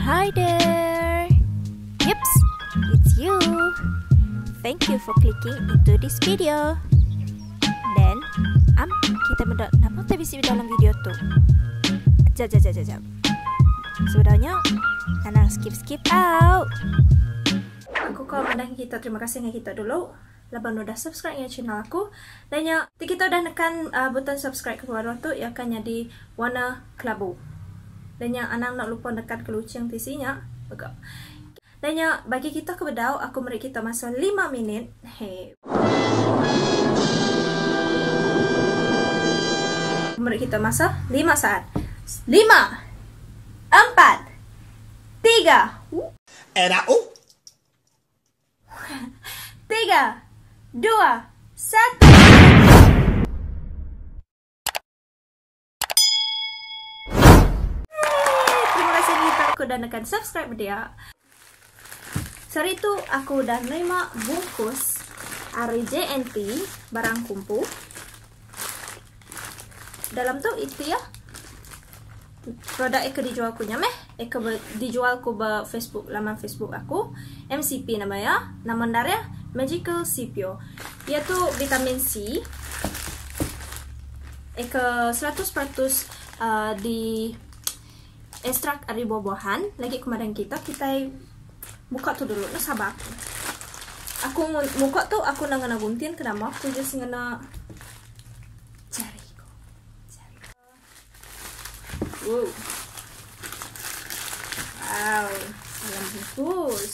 Hi there! Yups, it's you! Thank you for clicking into this video. Then, am kita meda nama tu bisi dalam video tu? Jap, jap, jap, jap, jap. Sebenarnya, nanang skip-skip out. Aku kau madah kita terima kasih dengan kita dulu. Laban lu dah subscribe enggau channel aku. Lain nya, ti kita udah nekan button subscribe ke baruh tu iya akan nyadi warna kelabu. Lain nya, anang enda lupa nekan ke luching tisi nya mega. Lain nya, bagi kita ke bedau, aku meri kita masa lima minit. He. Aku meri kita masa lima saat. Lima! Empat! Tiga! Ena uh. Tiga. Dua. Satu. Terima kasih Nita aku dah nekan subscribe dia. Sehari tu aku udah nerima bungkus ari JNT barang kumpu. Dalam tu iti ya. Produk eka dijual ku nya meh. Eka dijual ku ba Facebook, laman Facebook aku. MCP nama ya. Nama ndar ya. Magical CPO. Ia tu vitamin C. Eka 100% uh, di Estrak ari buah-buahan lagi kemarin kita kitai buka tu dulu nah sabar aku. Aku muka tu aku enda ngena guntin ke nama aku just ngena jari ku. Jari. Wow. Wow, dalam bungkus.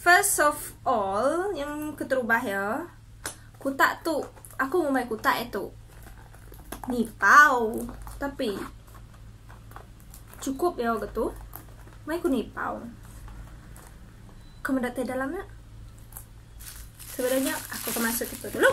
First of all, nyam keterubah iya. Kutak tu, aku ngumbai kutak iya tu. Nipau. Tapi. Cukup iya ke tu. Mai ku nipau. Ke meda tai dalam nya. Sebedau nya, aku ke masuk itu dulu.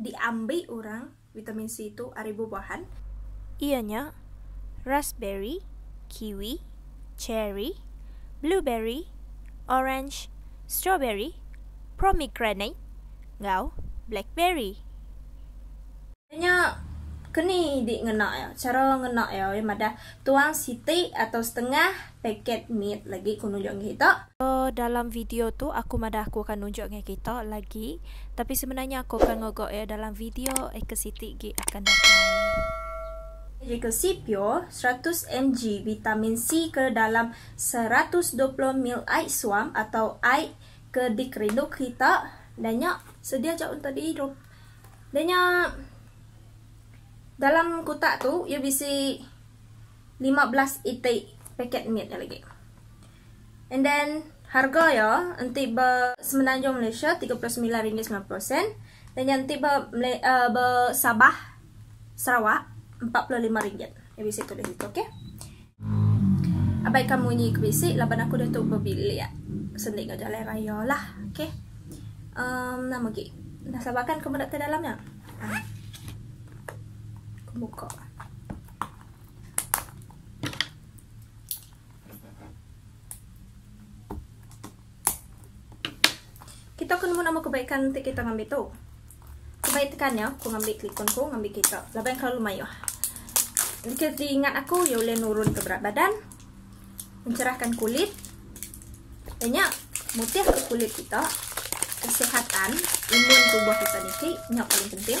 diambi orang vitamin C tu ari bubuahan, iya nya raspberry, kiwi, cherry, blueberry, orange, strawberry, promegranate enggau blackberry. Iya nya keni di ngena iya. Chara ngena iya, iya madah tuang siti atau setengah paket mit lagi ku nunjuk enggau kita. Ba dalam video tu aku madah aku akan nunjuk enggau kita lagi tapi sebenarnya aku akan ngaga iya dalam video eka siti gi akan datai. Medical Cpure, seratus mg vitamin C ke dalam seratus dua puluh ml ai suam atau ai ke dikerindu kita da nya sedia aja untuk diirup. Da nya dalam kutak tu iya bisi. lima belas iti paket mit nya lagi. And then harga ya enti ba semenanjung Malaysia tiga puluh semilan ringgit semilan puluh sen dan nya enti ba uh, ba Sabah Sarawak empat puluh lima ringgit. Ya bisi tulis situ okey. Abaikan munyi ke bisi laban aku dah tu berbilik sendi ke jalan raya lah. Okey. Um, nama lagi? Dah sabarkan kamu nak ke dalam ya? Ah. Aku buka. Kita ke nemu nama kebaikan enti kita ngambi tu. Kebaik tekannya aku ngambi telefon ku ngambi kita. Laban kelalu mayuh. Jika diingat aku, ia boleh nurun ke berat badan, mencerahkan kulit, banyak mutih ke kulit kita, kesihatan, imun tubuh kita niki, nyak paling penting.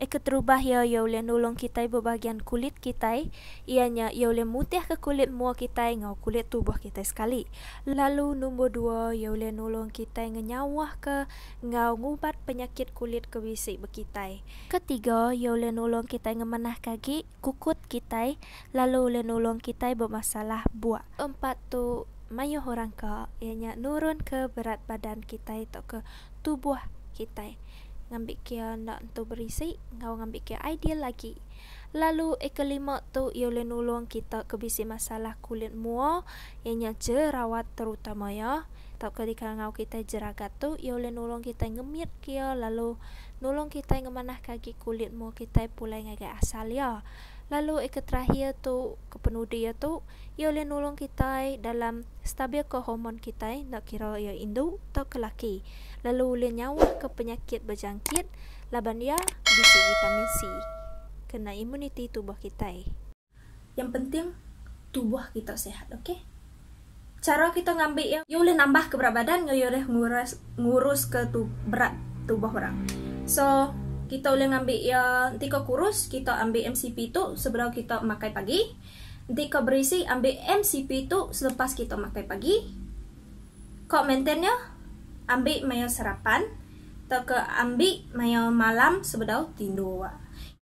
e keterubah iya iya ulih nulung kitai bebahagian kulit kitai iya nya iya ulih mutihka kulit mua kitai enggau kulit tubuh kitai sekali lalu numbur dua iya ulih nulung kitai ngenyauhka enggau ngubat penyakit kulit ke bisi ba kitai ketiga iya ulih nulung kitai ngemanahka agi. kukut kitai lalu ulih nulung kitai ba masalah buah. Keempat tu mayuh orang ka iya nya nurun ke berat badan kitai tauka tubuh kitai ngambi ke iya enda entu berisi enggau ngambi ke iya ideal agi. Lalu e kelima tu iya ulih nulung kita ke bisi masalah kulit mua iya nya jerawat terutama iya. tauka di karangau kitai jeragat tu, iya ulih nulung kitai ngemitka iya lalu nulung kitai ngemanahka agi kulit mua kitai pulai ngagai asal iya. Lalu eka terakhir tu kepenudi iya tu, iya ulih nulung kitai dalam stabilka hormon kitai enda kira iya indu tauka laki lalu ulih nyauhka penyakit bejangkit laban iya bisi vitamin C kena imuniti tubuh kitai. Yang penting tubuh kita sihat ok. Chara kita ngambi iya, iya ulih nambah ke berat badan enggau iya ulih nguras ngurus ke tu berat tubuh orang. So kita ulih ngambi iya enti kau kurus kita ambi mcp tu sebedau kita makai pagi. Enti kau berisi ambi mcp tu selepas kita makai pagi. Kau maintain iya ambi maya sarapan tauka ambi maya malam sebedau tindur.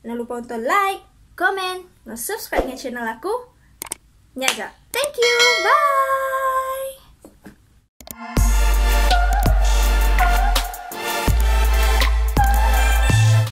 Jangan lupa untuk like, comment, enggau subscribe enggau channel aku nya ga. Thank you. Bye.